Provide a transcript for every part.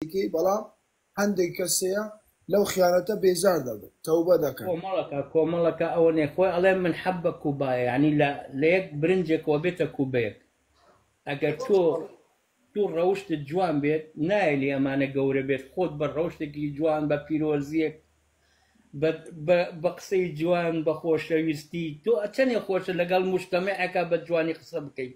بکەی بەڵام هەندێک کەس هەیە لەو خیانەتە بێزار دەبن تەوبە دەکەن. کۆمەڵەکە کۆمەڵەکە ئەوە نیە خۆی ئەڵێ من حەبە کوبایە یانی لە لە یەک برنجێکەوە بێتە کوبەیەک ئەگەر تۆ تۆ ڕەوشتت جوان بێت نایەلی ئەمانە گەورە بێت خۆت بە ڕەوشتێکی جوان بە پیرۆزیەک بە بە بە قسەی جوان بە خۆشەویستی تۆ ئەچەنێ خۆشە لەگەڵ مشتەمەعەکە بە جوانی قسە بکەیت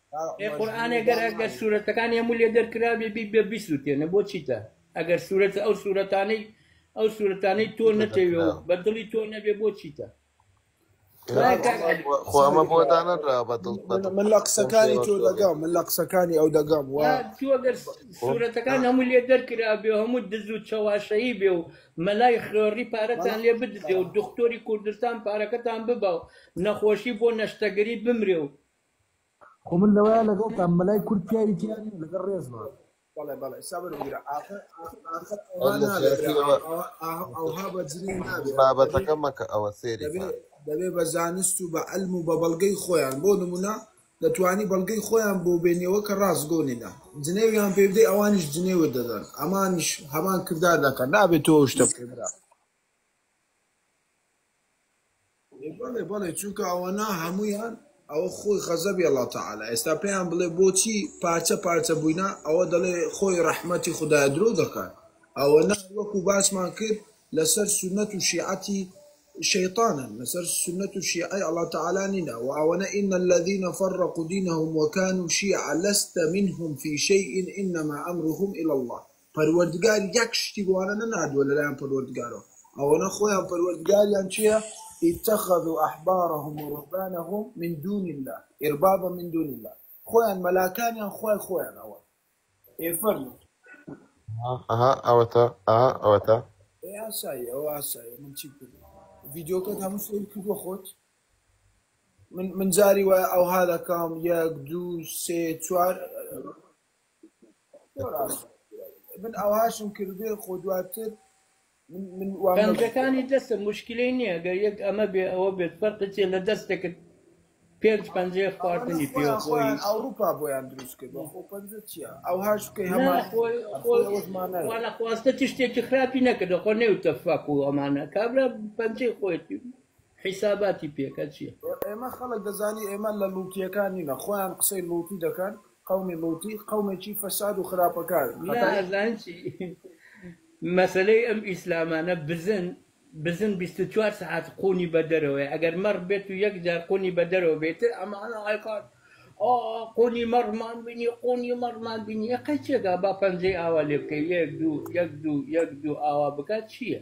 ئێ قورئانێ گەر ئەگەر سورەتەکانی هەموو لێ دەرکرابێ بی بە بیسوتێنە بۆ چیتە ئەگەر سورەت ئەو سورەتانەی ئەو سورەتانەی تۆ نەتەوێ و بە دڵی تۆ نەبێ بۆ چیتە خۆمە بۆ دانەدرا بە دڵ من لە قسەکانی تۆ دەگەم من لە قسەکانی ئەو دەگەم و تۆگەر سورەتەکان هەموو لێ دەرکرا بێ هەموو دز و چەواشەیی بێ و مەلای خوێڕی پارەتان لێ بدزێ و دکتۆری کوردستان پارەکەتان ببا و نەخۆشی بۆ نەشتەگەری بمرێ و خۆ من لەوەیە لەگەڵتان مەلای کورد پیاوی تیا نیە لەگەڵ ڕێزمان. بەڵێ بەڵێ سابر بگرە ئاخر ئاخر ئەوها اللە نابێ برا سیاسی ئەوە ئەوها بەجنێو نابێ دەبێ بابەتەکە مەکە ئەوە سێری دەبێ کات دەبێ بە زانست و بە عەلم و بە بەڵگەی خۆیان بۆ نمونە دەتوانی بەڵگەی خۆیان بۆ بێنیەوە کە ڕاست گۆ نینە جنێویان پێ بدەی ئەوانیش جنێوت دەدەن ئەمانیش هەمان کردار دەکەن نابێ تۆ ئەو شتە بکەی برا بەڵێ بەڵێ چونکە ئەوەنە هەموویان ئەوە خۆی غەزەبی اللە تعالی ئێستا پێیان بڵێ بۆچی پارچە پارچە بووینە ئەوە دەڵێ خۆی ڕەحمەتی خودایە درۆ دەکات ئەوەنە وەکو باسمان کرد لەسەر سونەت و شیعەتی شەیطانن لەسەر سونەت و شیعەی اللە تعالی نینە و ئەوەنە ان الذین فرقوا دینهم وکانوا شیعا لست منهم فی شیء انما امرهم الی اللە پەروەردگار یەک شتی بۆوانە نەناردووە لەلایەن پەروەردگارەوە ئەوەنە خۆیان پەروەردگاریان چیە اتخذوا احبارهم ورهبانهم من دون الله اربابا من دون الله خۆیان مەلاکانیان خوای خۆیان ئەوە ئێ فەرموو ئەها ئەوەتە ئەها ئەوەتە ئێ ئاسایی ئەوە ئاسایی من چی بکەم ڤیدیۆکەت هەموو سەیر کردووە خۆت من من جاری وایە ئەوها دەکەم یەک دوو سێ چوار پەنجەکانی دەستە موشکیلەی نیە گەر یەک ئەمە بێ ئەوە بێت فەرقی چیە لە دەستێکت پێنج پەنجەیە خواردنی پێوە خۆی نا خۆی خۆی خوا نەخواستە چ شتێکی خراپی نەکردە خۆ نەیوتە فەک و ئەمانە کابرا پەنجەی خۆیەتی حیساباتی پێکە چیە. قەومی لوتی قەومێکی فەساد و خراپەکارن نا خەتای. ئەزان چی مەسەلەی ئەم ئیسلامانە بزن بزن بیست و چوار سەعات قونی بە دەرەوەیە ئەگەر مەڕ بێت و یەک جار قونی بە دەرەوە بێت تر ئەمانە ئەکات ئا قونی مەڕمان بینی قونی مەڕمان بینی یەقەی چێ گا با پەنجەی ئاوا لێ بکەی یەک دوو یەک دوو یەک دوو ئاوا بکات چییە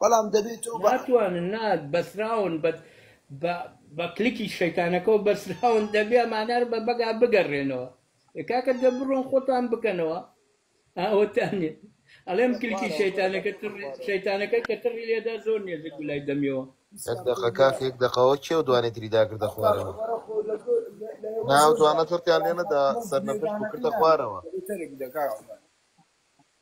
بەڵام دەبێ تۆ بە. ناتوانن نا بەسراون بە بە بە کلکی شەیتانەکەوە بەسراون دەبێ ئەمانە بە بەگا بگەڕێنەوە ئێ کاکە دە بڕۆن خۆتان بکەنەوە ئاوەتانێ ئەڵێم کلکی شەیتانەکە تڕێ شەیتانەکە کە تڕی لێدا زۆر نێزیک بوو لای دەمیەوە. یەک دەقە کاکە یەک دەقەوە کێو دوانی تری داکردە خوارەوە نا ئەو دوانە تڕتیان لێ نەدا سەرنەفش بوو کردە خوارەوە.